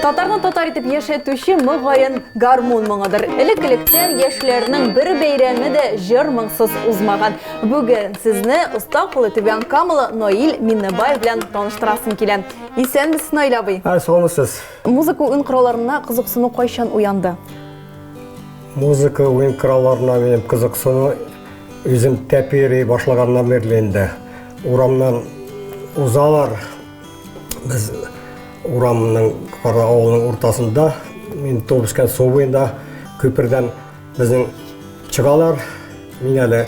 Татарны татар итеп яшәтүче мөгаен гармун моңыдыр. Элек-электән яшьләрнең бер бәйрәме дә җыр моңсыз узмаган. Бүген сезне оста кулы түбән камылы Наил Миннебай белән таныштырасым килә. Исәнмесез, Наил абый. Ә, саумысыз. Музыка уен коралларына кызыксыну кайчан уянды? Музыка уен коралларына минем кызыксыну үзем тәпи йөри башлаганнан бирле инде. Урамнан узалар, Без урамның кара авылының уртасында, мин туып үскән су буенда күпердән безнең чыгалар. Мин әле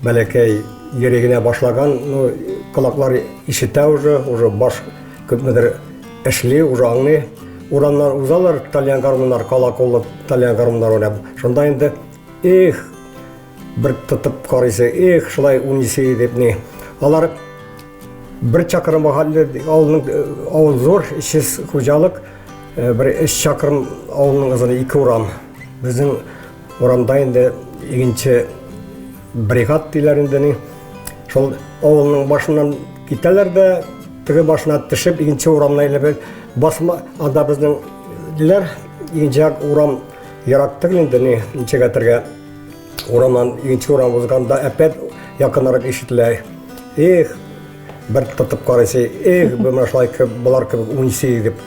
бәләкәй йөри генә башлаган, ну, колаклар ишетә уже, уже баш күпмедер эшли, уже аңлый. Урамнан узалар тальян гармуннар, кала куллы тальян гармуннар уйнап. Шунда инде, эх, бер тотып карыйсы, эх, шулай уйныйсы дип ни. Алар Бер чакрым гаһәлле авылның э, авыл зур, эшсез хуҗалык. Э, бер эш чакрым авылның озыны ике урам. Безнең урамда инде икенче бригад диләр инде ни. Шул авылның башыннан китәләр дә теге башына төшеп икенче урамны әйләп басма анда безнең диләр икенче урам ерак түгел инде ни ничәгә тергә Урамнан икенче урам узганда әпәт якынрак ишетелә. Эх, бер тотып карыйсы, эх, бу менә шулай кебек, болар кебек уйныйсы дип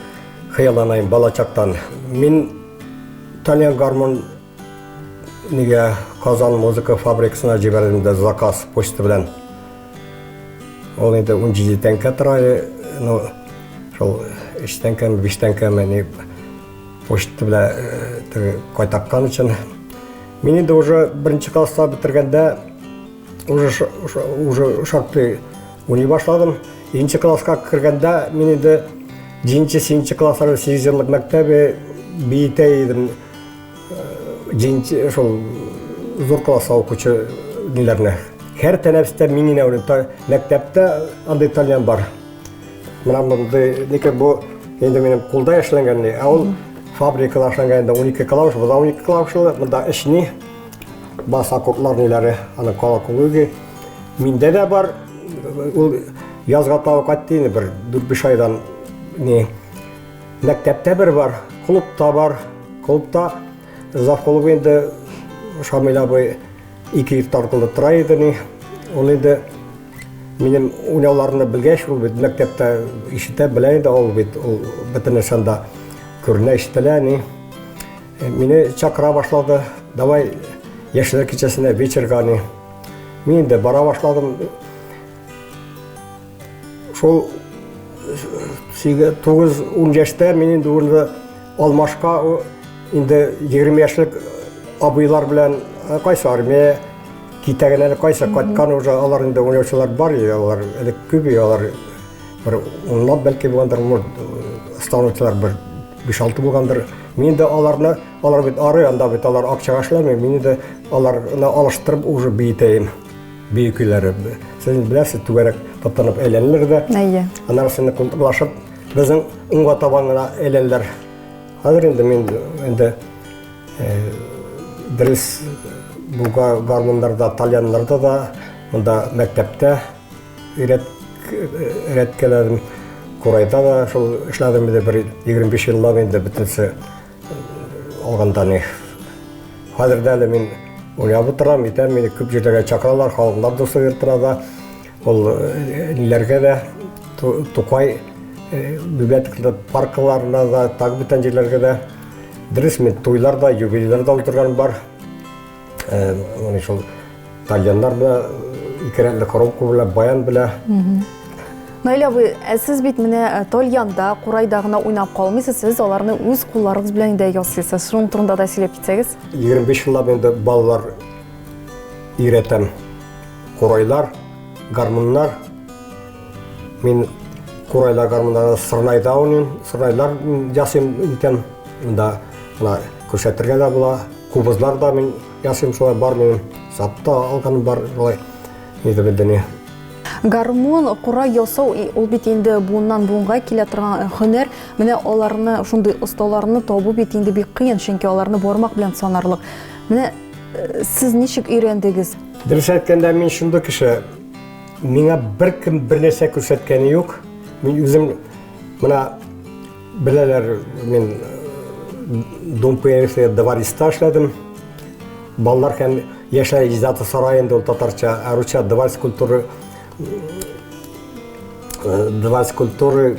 хыялланыйм бала чактан. Мин Тальян гармон нигә Казан музыка фабрикасына җибәрдем дә заказ почта белән. Ул инде 17 тәңкә тора иде. Ну, шул 3 тәңкәме, 5 тәңкәме, ни, Почта белән э, кайтаккан өчен. Мин инде уже беренче класста бетергәндә уже уже шактый уйный башладым. Икенче класска кергәндә мин инде җиденче сигезенче классларда сигезҗанлык мәктәбе биетә идем. Җиденче шул зур класс укучы ниләрне. Һәр тәнәфестә мин генә уйныйм. Мәктәптә андый тальян бар. Менә мондый, ләкин бу инде минем кулда эшләнгән, ә ул фабрикада эшләнгән инде 12 клавиш, бу да 12 клавишлы, монда эчни баса куплар ниләре, аны колоколуги. Миндә дә бар, ул язга тау кайтты инде бер 4-5 айдан не мәктәптә бер бар, клубта бар, клубта завколуб инде Шамил абый ике ир тартылды тора иде, ул инде Минем уйнауларны белгәч, ул бит мәктәптә ишетә, белә инде ул бит, ул бөтен нәрсәне дә күренә, ишетелә, ни. Э, мине чакыра башлады, давай яшьләр кичәсенә вечерга, ни. Мин инде бара башладым. Шул 9-10 яшьтә мин инде урынды алмашка инде 20 яшьлек абыйлар белән кайсы армия Китәген әле кайсы, кайткан уже алар инде уйнаучылар бар, алар әле күп, алар бер унлап бәлки булгандыр, станучылар бер биш алты булгандыр. Мин дә аларны, алар бит ары, анда бит алар акчага эшләми, мин дә аларны алыштырып уже биетәем. Бию көйләре. Сез беләсез, түгәрәк таптанып әйләнелер дә. Әйе. Аннары сине култыклашып, безнең уңга табан гына әйләнелер. Хәзер инде мин инде Дөрес, бу гармуннарда, тальяннарда да монда мәктәптә өйрәткәләдем. Курайда да шул эшләдем инде бер 25 еллап инде бөтенесе алганда ни. Хәзер дә әле мин уйнап утырам, әйтәм, мине күп җирләргә чакыралар, халыклар дусты дип торада. Ул ниләргә дә Тукай библиотекада, паркларына да, так бүтән җирләргә дә дөрес мин туйлар да, юбилейлар да уздырган бар. Э, менә шул тальяннар белән ике рәтле коробка белән баян белән Наилә абый, ә сез бит менә э, тольянда, курайда гына уйнап калмыйсыз, сез аларны үз кулларыгыз белән дә ясыйсыз. Шуның турында да сөйләп китсәгез. 25 еллап инде балалар өйрәтәм. Курайлар, гармуннар. Мин курайлар, гармуннар сырнайда уйныйм. Сырнайлар ясыйм икән. Монда мына күрсәтергә дә була. Кубызлар да мин ясыйм шулай бар минем. Сатта алган бар шулай. Нидебедене. Гармун, курай ясау ул бит инде буыннан буынга килә торган э, һөнәр. Менә аларны, шундый осталарны табу бит инде бик кыен, чөнки аларны бармак белән санарлык. Менә э, сез ничек өйрәндегез? Дөрес әйткәндә, мин шундый кеше. Миңа беркем бер нәрсә күрсәткәне юк. Мин үзем менә беләләр, мин э, Дом пионерства Давариста эшләдем. Балалар һәм яшьләр иҗаты сарае инде ул татарча, ә русча Даварис культуры э, Даварис культуры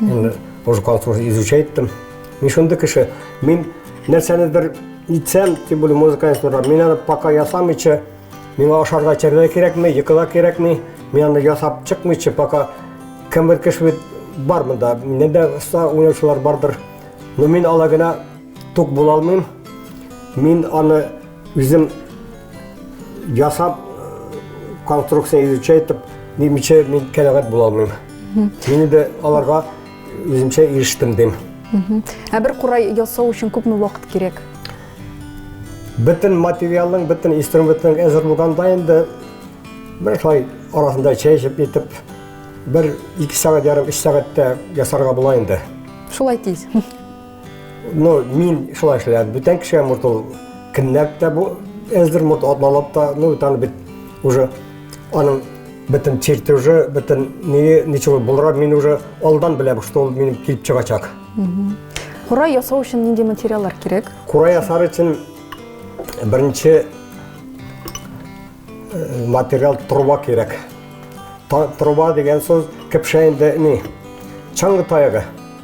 Мин музыкал службу изучайттым. Мин шундый кеше, мин нәрсәнедер итсәм, тем более музыкальный служба, мин аны пока ясамыйча, миңа ашарга эчәргә кирәкми, йокыга кирәкми, мин аны ясап чыкмыйча, пока кембер кеше бит бар монда, миннән дә оста уйнаучылар бардыр. Но мин ала гына тук була алмыйм. Мин аны Үзем ясап конструкция изучай итеп немичә мин кәнәгать була алмыйм. Мин инде аларга үземчә ирештем дим. Ә бер курай ясау өчен күпме вакыт кирәк? Бөтен материалның, бөтен инструментның әзер булганда инде бер шулай арасында чәй эчеп итеп бер ике сәгать ярым өч сәгатьтә ясарга була инде. Шулай тиз. Ну, мин шулай эшләп, бүтән кеше мурт ул кеннәп тә бу эздер мурт атлалап та, ну, таны бит уже аның бөтен черти уже, бөтен ни, ничего булра, мин уже алдан беләм, что ул минем килеп чыгачак. Кура ясау өчен нинди материаллар кирәк? Кура ясар өчен беренче э, материал труба кирәк. Та, труба дигән сүз кепшә инде ни? Чаңгы таягы.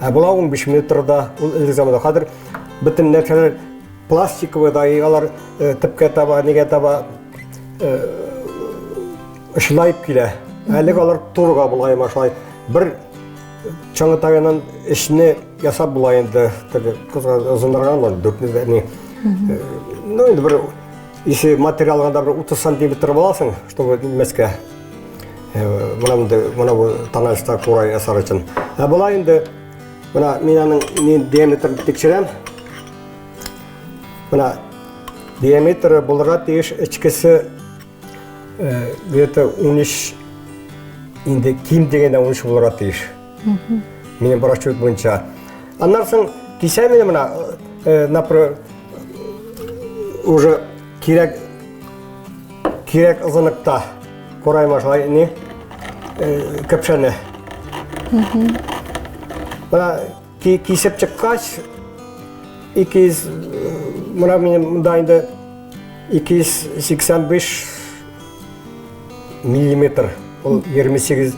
Ә була 15 метрда, ул элек заманда хәзер бөтен нәрсәләр пластиковый даигалар э, төпкә таба, нигә таба э, шылайып килә. Әлек алар турга булай машлай. Бер чаңы тагынан эшне ясап була инде. Теге кызга озынраган бар, дүртне ни. Э, ну, инде бер ише материалганда бер 30 сантиметр буласың, чтобы мәскә. Менә монда, менә бу таналышта курай ясар өчен. Ә болай инде менә мин аның ни диаметрын тикшерәм. Менә диаметры булырга тиеш ичкесе где-то 13 инде ким дигәндә 13 булырга тиеш. Минем расчет буенча. Аннан соң кисәм менә уже Кирәк кирәк озынлыкта корай башлай не кәпшәне. Мына кисеп чыккач, 200 мына минем монда инде 285 миллиметр, ул 28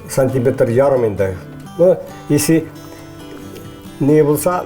сантиметр ярым инде. Ну, если не булса,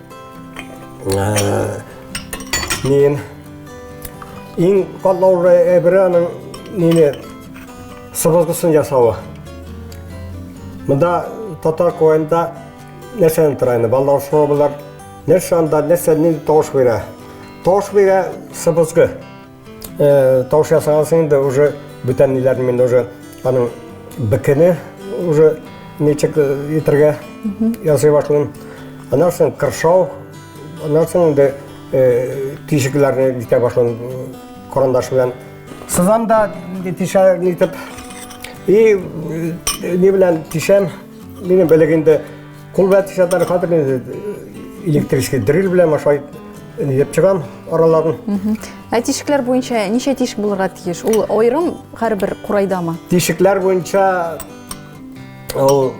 Мин иң катлаулы әйбере аның нене сыбызгысын ясавы. Монда татар коенда нәрсәне тора инде, балалар сорабылар, нәрсә анда, нәрсә нинди тавыш бирә. Тавыш бирә сыбызгы. Э, тавыш ясаган соң инде уже бүтән ниләрне мин уже аның бекене уже ничек итергә ясый башлыйм аннан соң кыршау аннан соң инде тишекләрне итә башлыйм карандаш белән сызам да тишә итеп и ни белән тишәм минем белек инде Кул белән тишәтәр, хәзер инде электрический дрель белән ашай еп чыгам араларын. Ә тишекләр буенча ничә тишек булырга тиеш? Ул аерым һәрбер курайдамы? Тишекләр буенча ул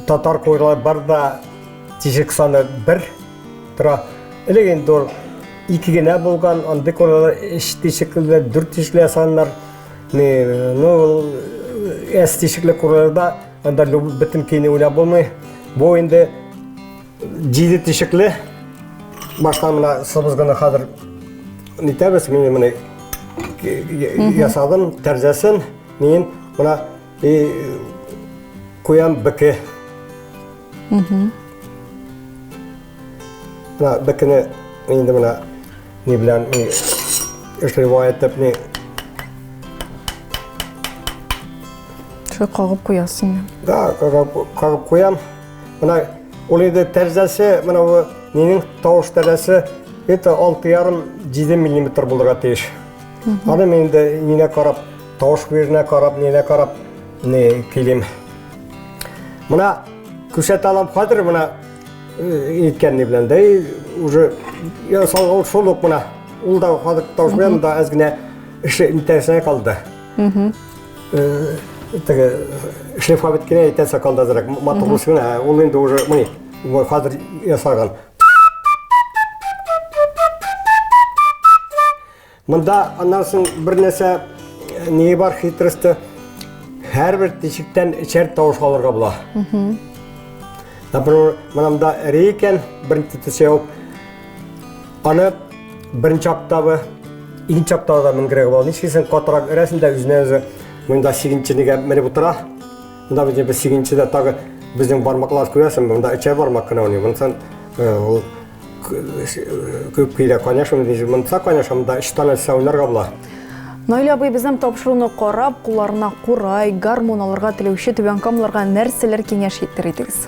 татар курайлар бар да тишек саны бер тора. Элек инде ул ике генә булган, андый курайлар өч тишекле, дүрт тишекле ясаганнар. Ну, ул әс тишекле курайларда Анда люб- бөтен көйне уйнап булмый. Бу инде җиде тишекле. Башта менә сыбызгыны хәзер нитәбез, мин менә ки- я- ясадым тәрзәсен. Мин менә и, куям беке. Менә бекене инде менә ни белән ни эшләп итеп ни Шулай кагып куясың. Да, кагып куям. Менә ул инде тәрәзәсе, менә бу минем тавыш тәрәзәсе это 6,5-7 мм булырга тиеш. Аны мин инде нинә карап, тавыш беренә карап, нинә карап, не килим. Менә күрсәтә алам хәзер менә иткән ни белән дә уже я салган шул ук менә ул да хәзер тавыш белән да әз генә эше интәсенә калды. Теге шефка бит кенә әйтә сакалда зрак, матур булсын гына, ул инде уже, мыни, хәзер ясаган. Монда аннан соң бер нәрсә не бар хитросты, һәрбер тишектән эчәр тавыш алырга була. Например, монда рейкен, беренче төсәү, Аны беренче октавы, икенче октавада менгерәгә була. Ничкесен катырак өрәсен дә үзенә үзе монда сигенченегә менеп утыра. Монда безне без сигенчедә тагы безнең бармаклар күрәсең, монда өчәр бармак кына уйный. Монсын ул күп килә, конечно, монса, конечно, монда өч тана сәүнәргә була. Наил абый безнең тапшыруны карап, кулларына курай, гармун алырга теләүче түбән камларга нәрсәләр киңәш итер идегез?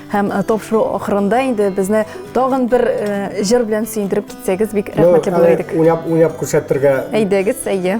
Һәм э, тапшыру ахырында инде безне тагын бер э, җыр белән сөендереп китсәгез бик рәхмәтле булыр идек. Уйнап, уйнап күрсәтергә. Әйдәгез, әйе.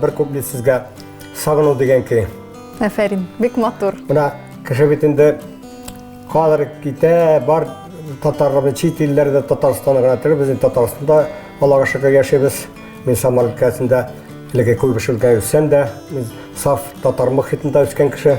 Бер күпле сезгә сагыну дигән көй. Афәрин, бик матур. Менә кеше бит инде калыр китә, бар татарларны чит илләрдә Татарстанга гына түгел, без Татарстанда Аллага шөкер яшибез. Мин Самар өлкәсендә элеге Куйбышевка үссәм дә, мин саф татар мөхитендә үскән кеше.